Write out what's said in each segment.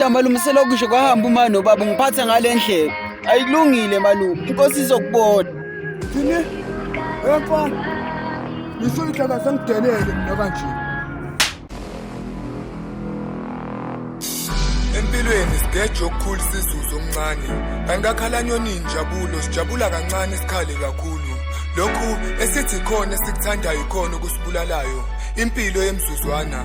malume selokisho kwahamba uma nobaba ngiphathe ngale ndlela ayikulungile malume inkosi izokubona thini emfana ngisho ihlaka sengidelele nakanje empilweni sigeje okukhulu sizuze omncane kanti akhalanyoni injabulo sijabula kancane sikhale kakhulu lokhu esithi khona esikuthandayo ikhona okusibulalayo impilo yemzuzwana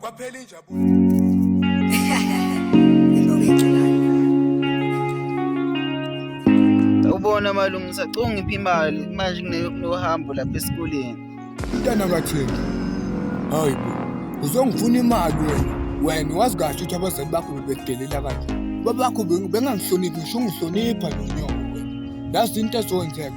kwaphela injabulo ubona malungu sacunga ngiphi imali manje kunohambo lapha esikoleni mntana kathini hayi bo uzongifuna imali wena wena wazi kahle ukuthi abazali bakho bebedelela kanje babakho bengangihloniphi ngisho ungihlonipha lo nyoko wena yazi into ezowenzeka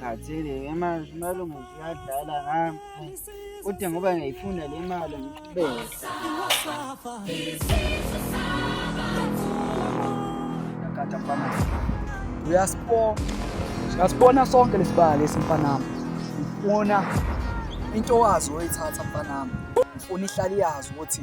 ngikhathele ngemanje imali umuthi uyadlala ngami kodwa ngoba ngiyayifunda le mali ngiqhubeke uyasibona sonke lesibaya lesi mfanami ngifuna into wazi oyithatha mfanami ngifuna ihlali yazi ukuthi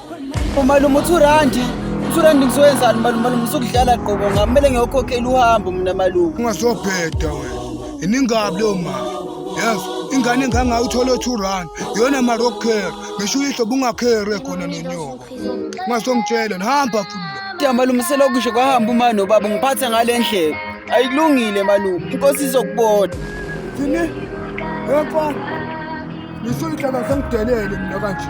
umalume uthi urandi uthi urandi ngizoyenzani malume malume usukudlala qobo ngami kumele ngiyokhokhela uhambo mina malume ungasobheda wena iningabi leyo mali yes ingane engangayo uthole two run yona marokher ngisho uyihlo bungakhere khona nonyoko ungasongitshela nihamba futhi ya malume selokusho kwahamba uma nobaba ngiphathe ngale ndlela ayikulungile malume inkosi izokubona thini yemfana ngisho ihlala sengidelele mina kanje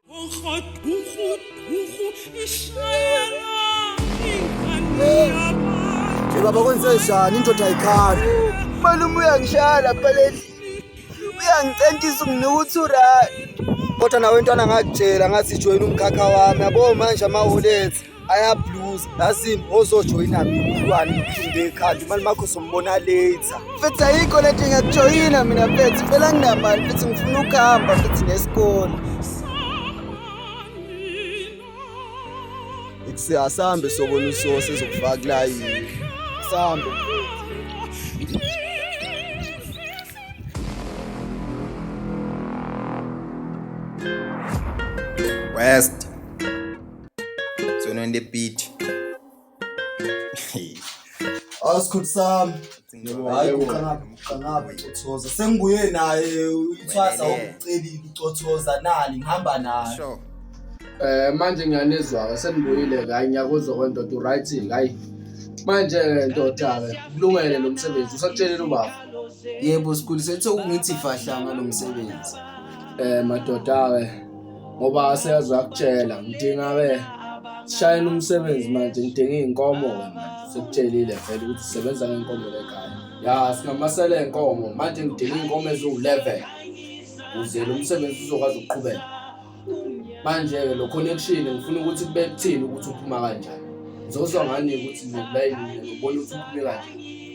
baba kwenzenjani indoda ayikhali malume uyangishaya lapha lendlini uyangicentisa unginika u-two rand kodwa nawe ntwana ngakutshela ngathi joyina umkhakha wami yabo manje amawolethi ayabluza yazini ozojoyina mntwana uphinde ekhanda imali makho sombona later mfethu ayikho le nto ngiyakujoyina mina mfethu phela nginamali mfethu ngifuna ukuhamba mfethu nesikole ikuse asambe sobona usose ezokufaka kulayini sambe west Zona in the beat. Awusikhulu sami. Hayi uqanaphi uqanaphi ucothoza. Sengibuye naye uthwasa okucelile ucothoza nani ngihamba naye. Sure. Eh manje ngiyanizwa senibuyile la ngiyakuzwa kwendoda uright hayi. Manje ke ndoda ke kulungele lo msebenzi usakutshelile ubaba. Yebo sikhulu sethu ungithi fahla ngalomsebenzi. Eh madoda ke ngoba seyazi wakutshela ngidinga ke shayela umsebenzi manje ngidinga iy'nkomo ke manje sekutshelile vele ukuthi usebenza ngey'nkomo lekhaya ya singamasele ey'nkomo manje ngidinga iy'nkomo eziwu-eleven ukuze lo msebenzi uzokwazi ukuqhubeka manje-ke lo connection ngifuna ukuthi kube kuthini ukuthi uphuma kanjani ngizozwa ngani ukuthi nokulayini ubona ukuthi uphume kanjani